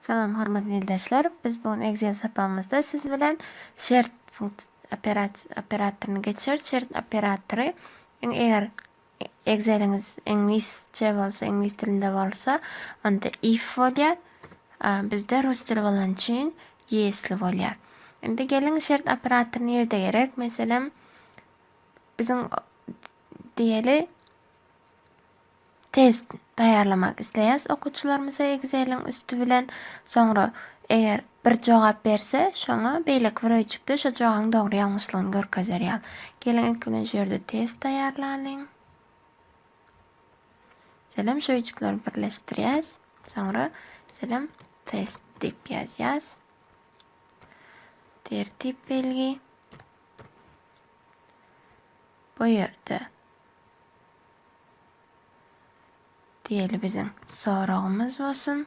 Salam hormatly ildeşler. Biz bu gün Excel sapamyzda siz bilen şert operatoryny geçer. Şert operatory eger Exceliňiz iňlisçe bolsa, iňlis dilinde bolsa, onda if bolýar. Bizde rus dili bolan üçin если bolýar. Indi geliň şert operatory nirde gerek? Meselem, biziň diýeli test taýýarlamak isleýäs okuwçylarymyza Exceliň üsti bilen. Soňra eger Bir jogap berse, şoňa beýleki bir öýjükde şo jogabyň dogry-ýalňyşlygyny görkezer ýal. Geliň, ilki bilen şu ýerde test taýýarlalyň. Şeýle şu öýjükleri birleşdirýäs. Soňra şeýle test diýip ýazýas. Tertip belgi. Bu ýerde diýeli biziň soragymyz bolsun.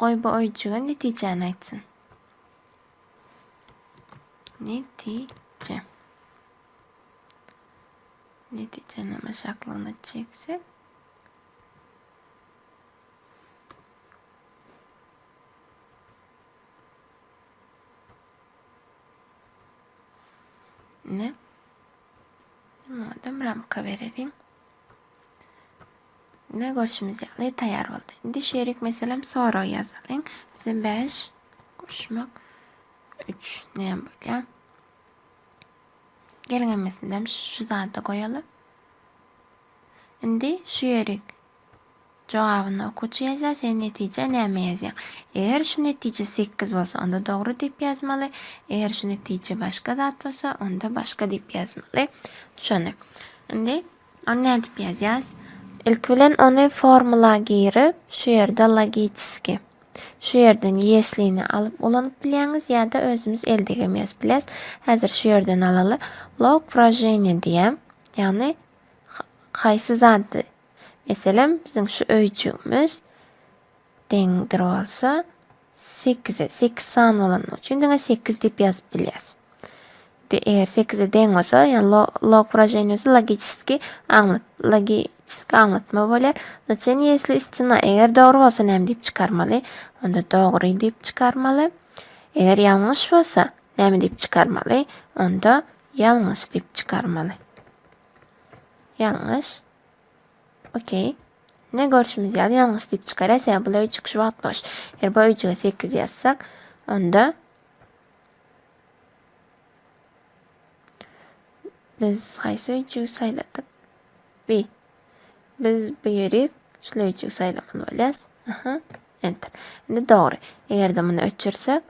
Goý bu öýjüge netijäni aýtsyn. Netije. Netijäniň aşaklygyna çeksek. Ne? Madem ramka verelim. Ine görşümiz ýaly taýýar boldy. Indi şerik meselem sorag ýazalyň. Bize 5 goşmak 3 näme bolýar? Geliň hemmesini şu zada goýalyň. Indi şu ýerik Jogabynda okuwçy ýazýar, sen netijä näme ýazýaň? Eger şu netije sekiz bolsa, onda dogry diýip ýazmaly, eger şu netije başga zat bolsa, onda başga diýip ýazmaly. Şony. Indi ony nädip ýazýas? Ilki bilen ony formula girip, şu ýerde logiçski. Şu ýerden ýeslini alyp ulanyp bilýäňiz ýa-da özümiz eldegem ýazyp bilýäs. Häzir şu ýerden alaly. Log wraženiýa diýýän, ýagny haýsy zady Meselem, biziň şu öýjügimiz deňdir bolsa 8-e. 8 san bolany üçin diňe 8 diýip ýazyp bilýäs. Indi eger 8-e deň bolsa, ýagny lo, log wyraženiýesi logiçeski aňlat, logiçeski aňlatma bolýar. Znaçeniýe ýesli istina eger dogry bolsa näme diýip çykarmaly? Onda dogry diýip çykarmaly. Eger ýalňyş bolsa näme diýip çykarmaly? Onda ýalňyş diýip çykarmaly. Ýalňyş. Okey. Ne görşümiz ýaly ýalňyş diýip çykara, sebäbi bu öý çykyş wagt boş. Eger bu öýjüge 8 ýazsak, onda biz haýsy öýjügi saýladyk? Bi. Biz bu ýeri şu öýjügi saýlamaly bolýas. Aha. Enter. Indi dogry. Eger-de muny öçürsek,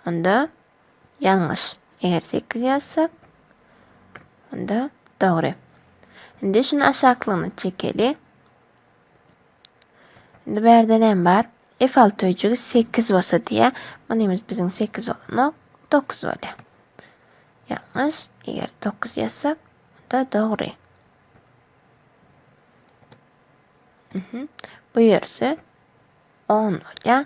onda Ýalňyş. Eger sekiz ýazsak, onda dogry. Indi şuny aşaklygyna çekeli. Indi bärde näme bar? F alty öýjügi sekiz bolsa diýä. Munymiz biziň sekiz bolanok. Dokuz bolýa. Ýalňyş. Eger dokuz ýazsak, onda dogry. Mhm. Bu ýerse on bolýa.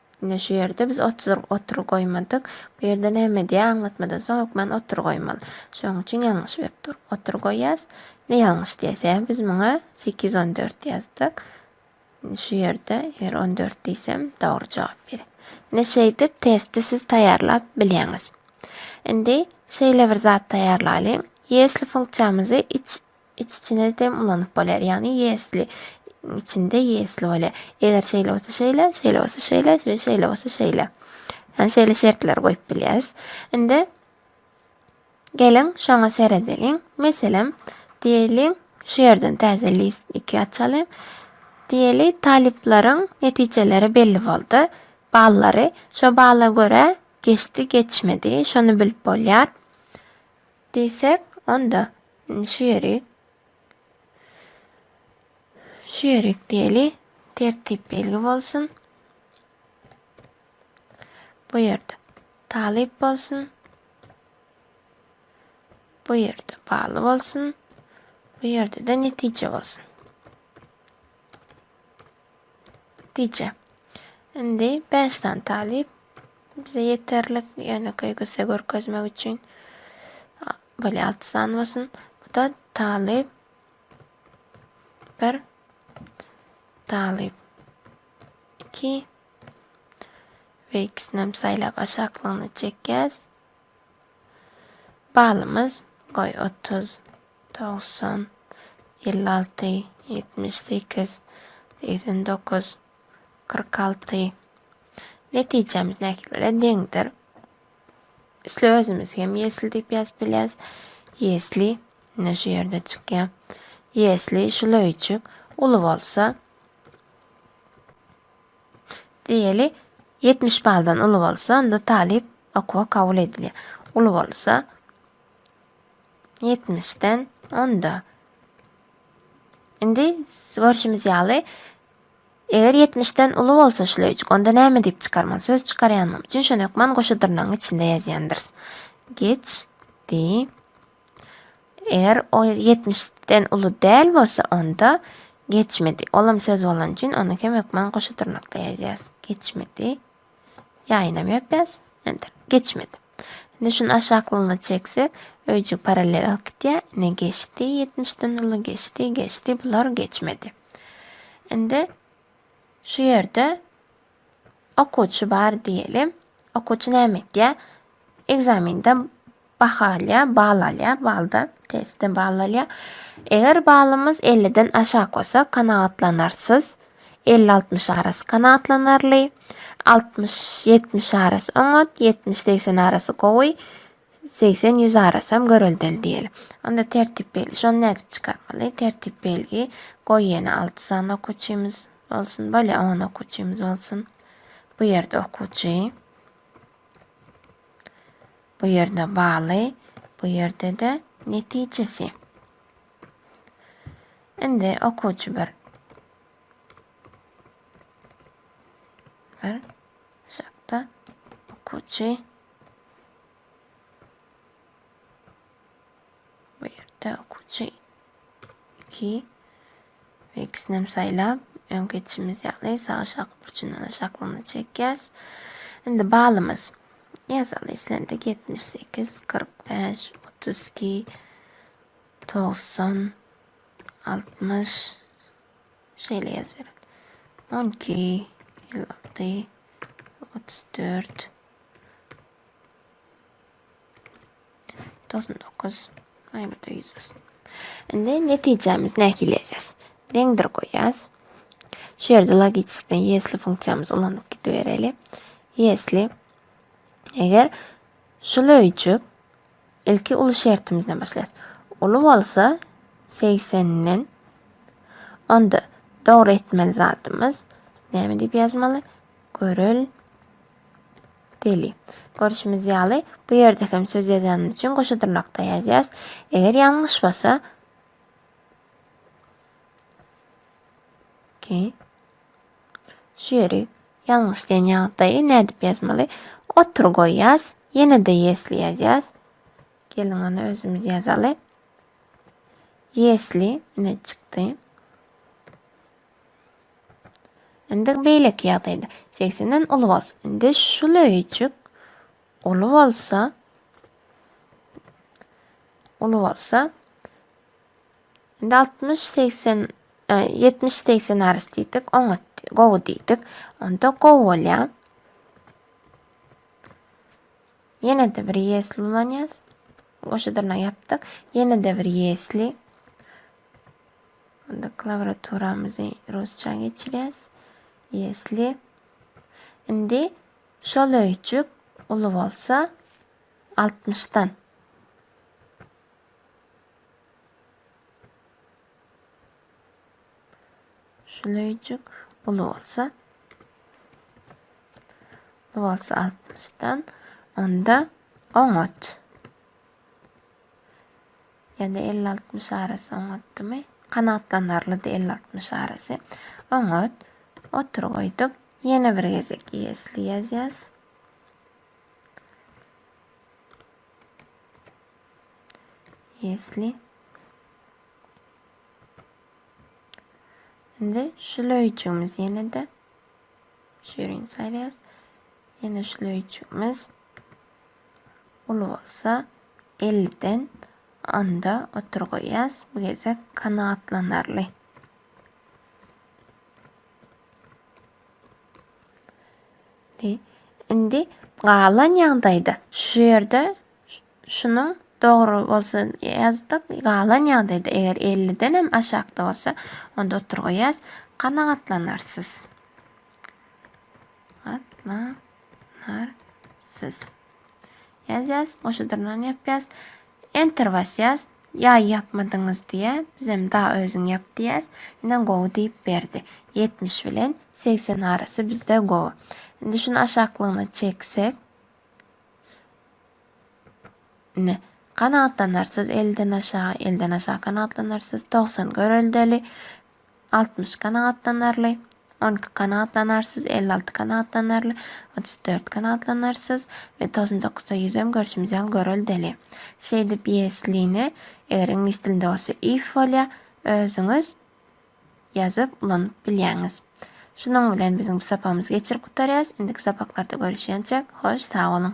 Ine şu ýerde biz otur otur goýmadyk. Bu ýerde näme diýýär? Aňlatmadan soň hökman otur goýmaly. Şonuň üçin ýalňyş berip dur. Otur goýýas. Ine ýalňyş diýýär. Sebäbi biz muňa sekiz ýüz on dört ýazdyk. Indi şu ýerde eger on dört diýsem dogry jogap berer. Ine şeýdip testi siz taýýarlap bilýäňiz. Indi şeýle bir zat taýýarlalyň. Ýesli funksiýamyzy iç iç-içine dem ulanyp bolýar. Ýagny ýesli içinde ýesli bolýar. Eger şeýle bolsa şeýle, şeýle bolsa şeýle we şeýle bolsa şeýle. Yani şeýle şertler goýup bilýäris. Indi geliň şoňa seredeliň. Meselem, diýeliň, şu ýerden täze list 2 açalyň. Diýeli talyplaryň netijeleri belli boldy. Ballary şo balla görä geçdi, geçmedi. Şony bilip bolýar. Diýsek, onda, indi şu ýeri şu ýerik diýeli, tertip belgi bolsun. Bu ýerde talyp bolsun. Bu ýerde bagly bolsun. Bu ýerde-de netije bolsun. Gije. Indi bäş sany talyp bize ýeterlik, ýöne köýgüse görkezmek üçin. Bolýa alty sany bolsun. Bu-da talyp. Bir talyp. Iki. Ve ikisini hem saýlap aşaklygyna çekýäs. Balymyz goý 30. Togsan, elli alty, ýetmiş sekiz, segsen dokuz, kyrk alty. Netijämiz nähili bilen deňdir? Isle özümiz hem ýesli diýip ýazyp bilýäris. Ýesli ine şu ýerde çykýar. Ýesli şula üçük uly bolsa diýeli 70 baldan uly bolsa onda talyp okuwa kabul edilýär. Uly bolsa Ýetmişden onda. Indi görşümiz ýaly, eger ýetmişden uly bolsa şleýçik, onda näme diýip çykarmaly? Söz çykarýanymyz üçin şony hökman goşa dyrnagyň içinde ýazýandyrys. Geçdi. Eger o ýetmişden uly däl bolsa, onda geçmedi. Ol hem söz bolany üçin ony hem hökman goşa dyrnakda ýazýarys. Geçmedi. Ýaýynam ýöpýäs. Enter. Geçmedi. Indi şuny aşaklygyna çekse, öýjük parallel alyp gitýär. Ine geçdi, ýetmişden uly geçdi, geçdi, bular geçmedi. Indi şu ýerde okuwçy bar diýelim. Okuwçy näme etýär? Ekzamende baha alýar, bal alýar, balda testde bal alýar. Eger balymyz 50-den aşak bolsa, kanagatlanarsyz elli-altmyş arasy kanagatlanarly, altmyş-ýetmiş arasy oňat, ýetmiş-segsen arasy gowy, segsen-ýüz arasam göreldeli diýeli. Onda tertip belgi. Şony nädip çykarmaly? Tertip belgi. Goý ýene alty sany okuwçymyz bolsun. Bolýa, on okuwçymyz bolsun. Bu ýerde okuwçy. Bu ýerde baly. Bu ýerde-de netijesi. Indi okuwçy bir bir şakda okuwçy bu ýerde okuwçy 2 we ikisini hem saýlap öň geçişimiz ýaly sag aşaky burçundan aşaklygyna çekýäs. Indi balymyz ýazaly islendik 78, 45, 32, Togsan, altmyş, şeýle ýazybereli. On iki, elli alty, otuz dört, togsan dokuz, aý birde ýüz bolsun. Indi netijämiz nähili ýazýas? Deňdir goýýas. Şu ýerde logicist bilen ýesli funksiýamyzy ulanyp gidibereli. Ýesli eger şul öýjük Ilki uly şertimizden başlaýas. Uly bolsa segsenden. Onda dogry etmeli zadymyz näme diýip ýazmaly? Görel deli. Görüşimiz ýaly bu ýerde hem söz ýazanymyz üçin goşa dyrnakda ýazýas. Eger ýalňyş bolsa ki Şu ýeri ýalňyş diýen ýagdaýy nädip ýazmaly? Otur goýýas. Ýene-de ýesli ýazýas. Geliň ony özümiz ýazaly. Ýesli ine çykdy. Indi beýleki ýagdaýda 80-den uly bolsa, indi şul öýjük uly bolsa uly bolsa Indi altmyş segsen ýetmiş segsen arys diýdik oňat gowy diýdik onda gowy bolýar ýene-de bir ýesli ulanýas goşa dyrnak ýapdyk ýene-de bir ýesli onda klawiaturamyzy rusça geçirýäs ýesli indi şol öýjük uly bolsa altmyşdan Şuleýjik uly bolsa uly bolsa altmyşdan onda oňat. Ýa-da elli altmyş arasy oňatdymy? Kanagatlanarlydy elli altmyş arasy. Oňat. Otur goýduk. Ýene bir gezek ýesli ýazýas. Ýesli. Indi şülöýjümiz ýene-de şirin saýlaýas. Ýene şülöýjümiz uly bolsa 50 den onda otur goýýas. Bu gezek kanagatlanarly. Indi galan ýagdaýda şu ýerde Şunuň dogry bolsa ýazdyk, galan ýagdaýda eger elliden hem aşakda bolsa, onda oturgy ýaz, kanagatlanarsyz. Gatlanarsyz. Ýazýas, goşa dyrnany ýapýas. Enter basýas. Ýaý ýapmadyňyz diýýä. Biz hem da özüň ýap diýýäs. Ine gowy diýip berdi. 70 bilen 80 arasy bizde gowy. Indi şuny aşaklygyna çeksek. Ine, kanagatlanarsyz elden aşa, elden aşa kanagatlanarsyz, togsan göreldeli, altmyş kanagatlanarly, on iki kanagatlanarsyz, elli alty kanagatlanarly, otuz dört kanagatlanarsyz we togsan dokuzda ýüzem görşümiz ýaly göreldeli. Şeýdip ýesline, eger iňlis dilinde bolsa if bolýar, özüňiz ýazyp ulanyp bilýäňiz. Şunuň bilen biziň bu sapagymyzy geçirip gutarýarys. Indiki sapaklarda görüşýänçäk, hoş sag boluň!